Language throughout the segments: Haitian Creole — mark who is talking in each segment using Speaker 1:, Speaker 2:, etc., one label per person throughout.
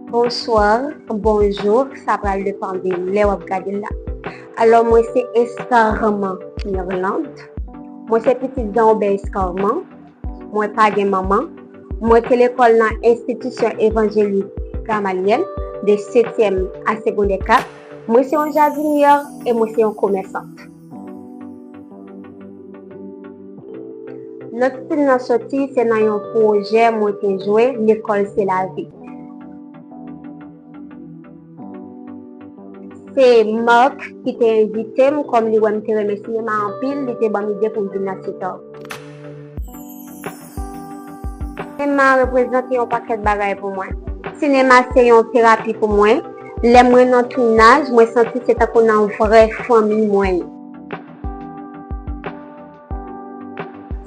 Speaker 1: Bonsoir, bonjour, sa pral depan de lè wap gade la. Alò mwen se Escarman Mirlande, mwen se pitit Zanobè Escarman, mwen pa gen manman, mwen te lekòl nan Enstitisyon Evanjelik Gamalyèl de setyèm a segondè 4, mwen se yon jadinyè e mwen se yon komèsant. Lòt stil nan soti se nan yon pwojè mwen te jwe, Lekòl se lavi. Se Marc ki te envite m, kòm li wè m te renmen sinema anpil, li te ban m ide pou m vin nan Citòg. Sinema reprezante yon pakèt bagay pou mwen. Sinema se yon terapi pou mwen. Lè mwen nan tounaj, mwen santi se tankou nan vrè fanmi mwen ye.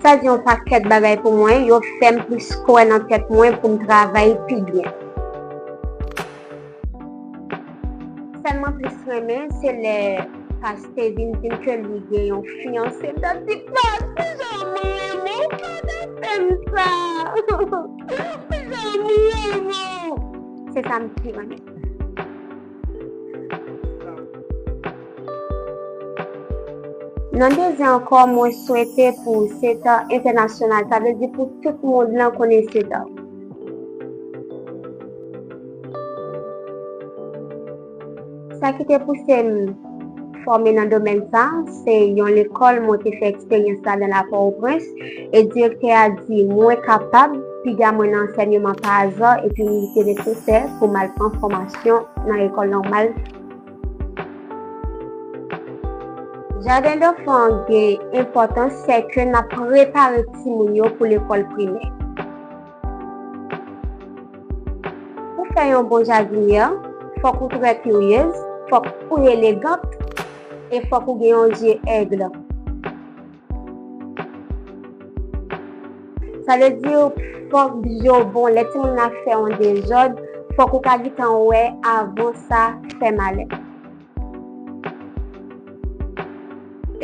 Speaker 1: Sa di yon pakèt bagay pou mwen, yo fè m plis kwè nan tèt mwen pou m travay pi byen. Sèl mwen plis renmen se lè paste vin dim ke li gen yon fiyanse m ta di paste jan m renmen w pata fèm sa jan m renmen w se sa m pi renmen. Nan dezi ankò mwen swete pou Satan entènasyonal sa vle di pou tout mond lan konnen Satan. Sa ki te pouse m fòme nan domèn sa, se yon lekòl mwen te fè eksperyans la dan la Pòwoprens, e direktè a di mwen kapab, piga mwen nan ansènyeman pa azò epi li te nesesè pou m al pran fòmasyon nan Lekòl Nòmal Jadendanfan an gen enpòtans sèke n ap prepare timoun yo pou lekòl primè. Pou fè yon bon jadinyè, fòk ou trè kiryez, fòk ou elegant e fòk ou gen yon zye ègle. Sa vle di ou fòk bgy yo bon lè timoun nan ap fè yon dezòd fòk ou ka gitan wè avan sa fè malè.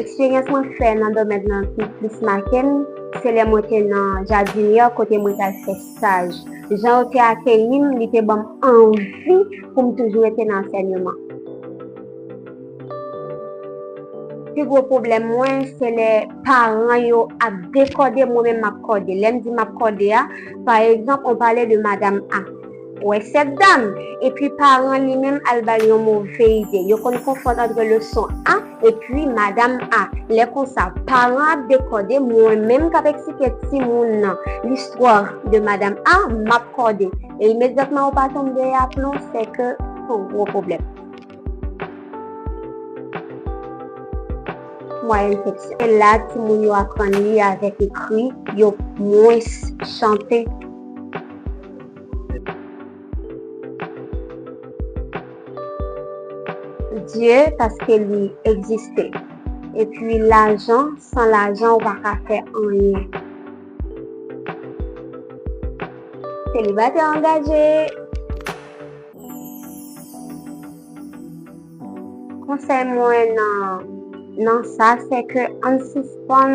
Speaker 1: Eksperyans mwen fè nan domèn nan ki plis make m se lè mwen te nan Jardinière kote mwen t al fè staj. Jan yo te akeyi m li te ban m anvi pou m toujou rete nan ansènyeman. Pi gwo pwoblèm mwen se lè paran yo ap dekòde mwen menm m ap kòde. Lè m di m ap kòde a, pa egzanp on pale de madam A wè sèt dam epi paran li menm al ba l yon move ide. Yo konn konfonn antre le son A epi madam A. Lè konsa, paran ap dekòde mwen menm k ap eksplike timoun nan listwa de madam A, m ap kòde. E imedyatman ou pa tonbe a plon, se ke son gwo pwoblèm. Mwayèn seksyon. Se la timoun yo aprann li avèk ekri, yo mwens chante. Dye paske li egziste. Epi lajan, san lajan ou pa ka fè anyen. Selibatè angaje! Konsèy mwen nan sa se ke ann sispann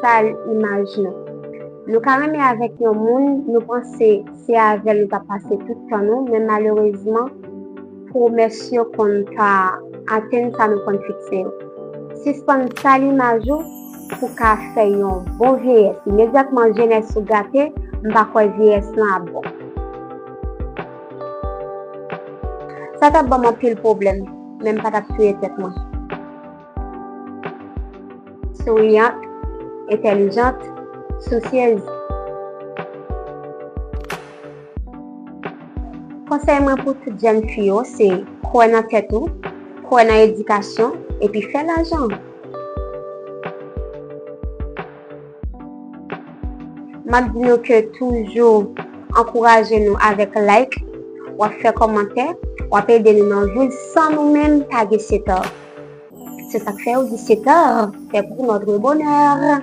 Speaker 1: sal imaj nou. Nou ka renmen avèk yon moun, nou panse se avèl nou tap pase tout tan nou men malerezman pwomès yo konn pa atenn sa nou konn fikse yo. Sispann sal imaj ou pou ka fè yon bon vyeyès. Imedyatman jenès ou gate, m pa kwè vyeyès lan ap bon. Sa tap banm anpil pwoblèm, men m pa tap touye tèt mwen. Souriyant, entèlijant, sousyez. Konsèy mwen pou tout jèn fi yo se kwè nan tèt ou, kwè nan edikasyon, epi fè lajan! Map di nou ke toujou ankouraje nou avèk like, wap fè kòmantè, wap ede nou nan vil san nou menm pa gen seta. Se sak fè yo di seta fè pou notre bonheur.